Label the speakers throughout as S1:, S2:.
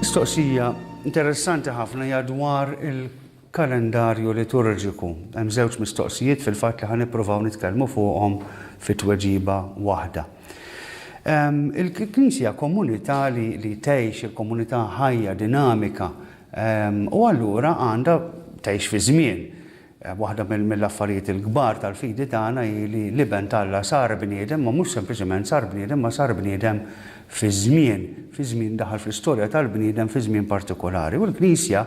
S1: Mistoqsija interessanti ħafna hija dwar il-kalendarju liturġiku. Hemm żewġ mistoqsijiet fil-fatt li ħa nippruvaw nitkellmu fuqhom fi tweġiba waħda. Ehm, Il-Knisja komunità li, li tgħix, il-komunità ħajja, dinamika, ehm, u allura għandha tgħix fi żmien. Waħda mill-affarijiet il-kbar tal-fidi tagħna hi li l-Iben t'Alla sar bniedem, ma mhux sempliċement sar bniedem, imma sar bniedem fiż-żmien, fi żmien daħal fl-istorja tal-bniedem fi żmien partikulari. U l-Knisja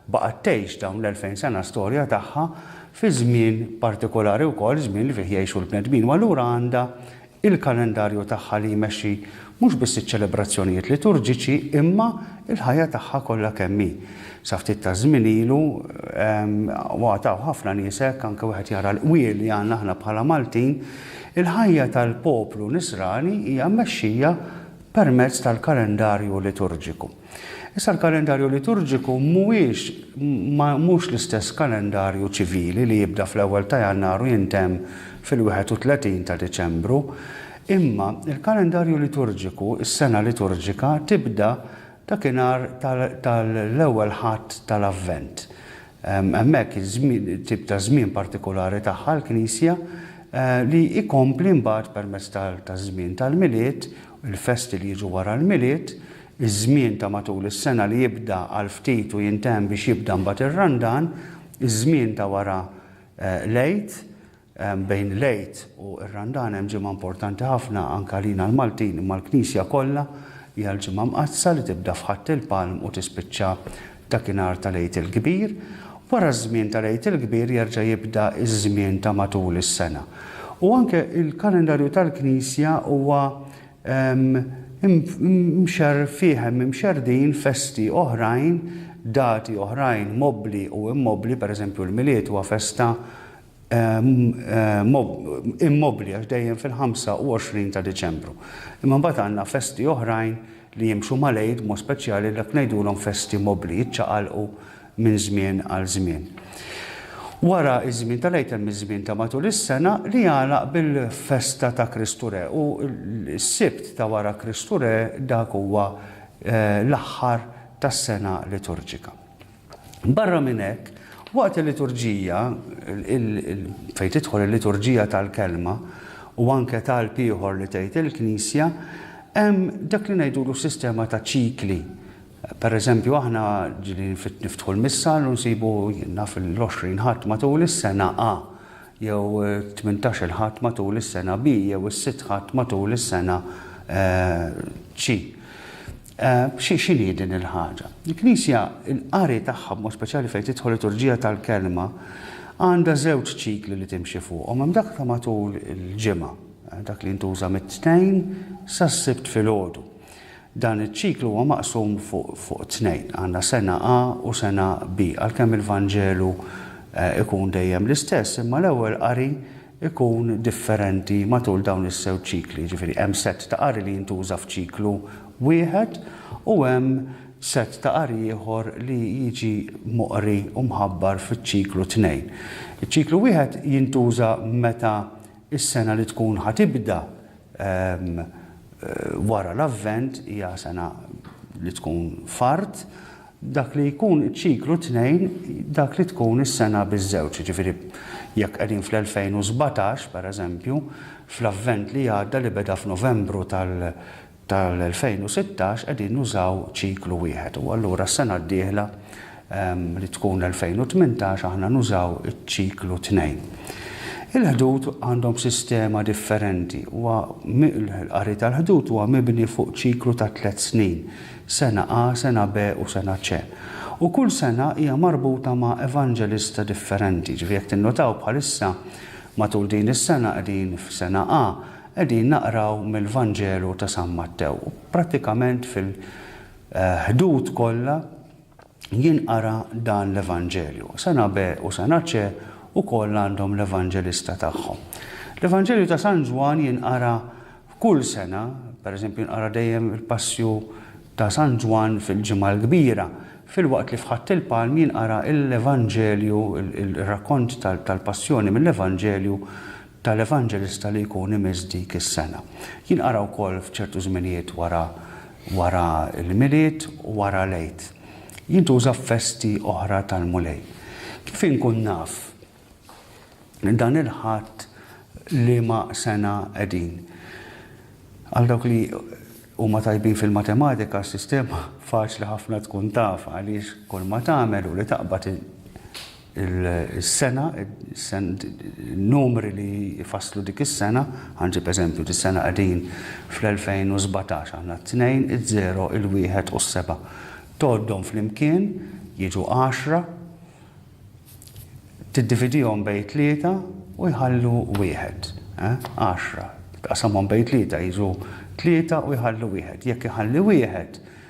S1: baqgħet tgħix dawn l-elfejn sena storja tagħha fi żmien partikulari wkoll, żmien li fih jgħixu l-bnedmin, u allura għandha il-kalendarju tagħha li jmexxi mhux biss iċ-ċelebrazzjonijiet liturġiċi imma l-ħajja tagħha kollha kemm hi. Sa ftit taż-żmien ilu, waqt hawn ħafna nies hekk, anke wieħed jara l-qwiel li għandna aħna bħala Maltin, il-ħajja tal-poplu Nisrani hija mmexxija permezz tal-kalendarju liturġiku. Issa l-kalendarju liturġiku mhuwiex mhux l-istess kalendarju ċivili li jibda fl-ewwel ta' Jannar u jintemm fil-31 ta' Diċembru, imma l-kalendarju liturġiku, is-sena liturġika, tibda dakinhar tal-Ewwel Ħadd tal-Avvent. Hemmhekk tip ta' żmien partikulari tagħha l-Knisja li jkompli mbagħad permezz taż-żmien tal-Milied, il-festi li jiġu wara l-Milied, iż-żmien ta' matul is-sena li jibda għal ftit u jintemm biex jibda mbagħad ir-Randan, iż-żmien ta' wara l-Għid, bejn l-Għid u r-Randan hemm ġimgħa importanti ħafna anke għalina l-Maltin imma għall-Knisja kollha, hija l-Ġimgħa Mqaddsa li tibda f'Ħadd il-Palm u tispiċċa dakinhar tal-Għid il-Kbir. Wara ż-żmien tal-Għid il-Kbir jerġa' jibda iż-żmien ta' matul is-sena. U anke l-kalendarju tal-Knisja huwa Mxerrfiehem, imxerrdin festi oħrajn, dati oħrajn mobbli u immobbli, per eżempju l-Milied huwa festa immobbli għax dejjem fil-25 ta' Diċembru. Imma mbagħad għandna festi oħrajn li jimxu mal-Għid b'mod speċjali dak ngħidulhom festi mobbli, jiċċaqalqu minn żmien għal żmien. Wara ż-żmien tal-Għid hemm iż-żmien ta' matul is-sena li jagħlaq bil-festa ta' Kristu Re u s-Sibt ta' wara Kristu Re dak huwa l-aħħar tas-sena liturġika. Barra minn hekk, waqt il-liturġija, fejn tidħol il-liturġija tal-Kelma u anke talb ieħor li tgħid il-Knisja, hemm dak li ngħidulu sistema ta' ċikli Pereżempju, aħna ġilin niftħu l-missal u nsibu, jien naf, l-20 Ħadd matul is-sena A, jew it-tmintax-il Ħadd matul is-sena B, jew is-sitt Ħadd matul is-sena C. X'inhi din il-ħaġa? Il-Knisja, il-qari tagħha, b'mod speċjali fejn tidħol liturġija tal-Kelma, għandha żewġ ċikli li timxi fuqhom. Hemm dak ta' matul il-ġimgħa, dak li jintuża mit-Tnejn sas-Sibt filgħodu. Dan iċ-ċiklu huwa maqsum fuq tnejn, għandna sena A u sena B. Għalkemm il-Vanġelu jkun dejjem l-istess, imma l-ewwel qari jkun differenti matul dawn iż-żewġ ċikli. Jiġifieri hemm sett ta' qari li jintuża f'ċiklu wieħed u hemm sett ta' qari ieħor li jiġi moqri u mħabbar fiċ-ċiklu tnejn. Iċ-ċiklu wieħed jintuża meta s-sena li tkun ħa tibda Wara l-Avvent hija sena li tkun f'art, dak li jkun iċ-ċiklu tnejn dak li tkun is-sena biż-żewġ, jiġifieri jekk qegħdin fl-2017, pereżempju, fl-Avvent li għadda li beda f'Novembru tal-2016 qegħdin nużaw ċiklu wieħed u allura s-sena d-dieħla li tkun 2018 aħna nużaw iċ-ċiklu tnejn. Il-ħdud għandhom sistema differenti u l-qari tal-ħdud huwa mibni fuq ċiklu ta' tliet snin, sena A, sena B u sena C. U kull sena hija marbuta ma' evanġelista differenti. Ġifieri jekk tinnotaw bħalissa matul din is-sena qegħdin f'sena A, qegħdin naqraw mill-Vanġelu ta' San Mattew. Prattikament fil-ħdud kollha, Jien qara dan l-Evanġelju. Sena B u sena C ukoll għandhom l-Evanġelista tagħhom. L-Evanġelju ta' San Ġwann jinqara kull sena, per eżempju jinqara dejjem il-Passju ta' San Ġwann fil-Ġimgħa l-Kbira, filwaqt li f'Ħadd il-Palm jinqara l-Evanġelju, ir-rakkont tal-Passjoni mill-Evanġelju tal-evanġelista li jkun imiss dik is-sena. Jinqara wkoll f'ċertu żminijiet wara wara l-Milied u wara l-Għid. Jintuża f'festi oħra tal-Mulej. Kif inkun naf dan il-Ħadd liema sena qegħdin? Għal dawk li huma tajbin fil-matematika, s-sistema faċli ħafna tkun tafha għaliex kulma tagħmel hu li taqbad is-sena, in-numri li jfasslu dik is-sena, ħa nġib eżempju, dis-sena qegħdin fl-2017, aħna t-tnejn, iż-żero, il-wieħed u s-seba'. Tgħoddhom flimkien, jiġu għaxra, tiddividihom bejn tlieta u jħallu wieħed. Għaxra, tqasamhom bejn tlieta jiġu tlieta u jħallu wieħed. Jekk iħalli wieħed,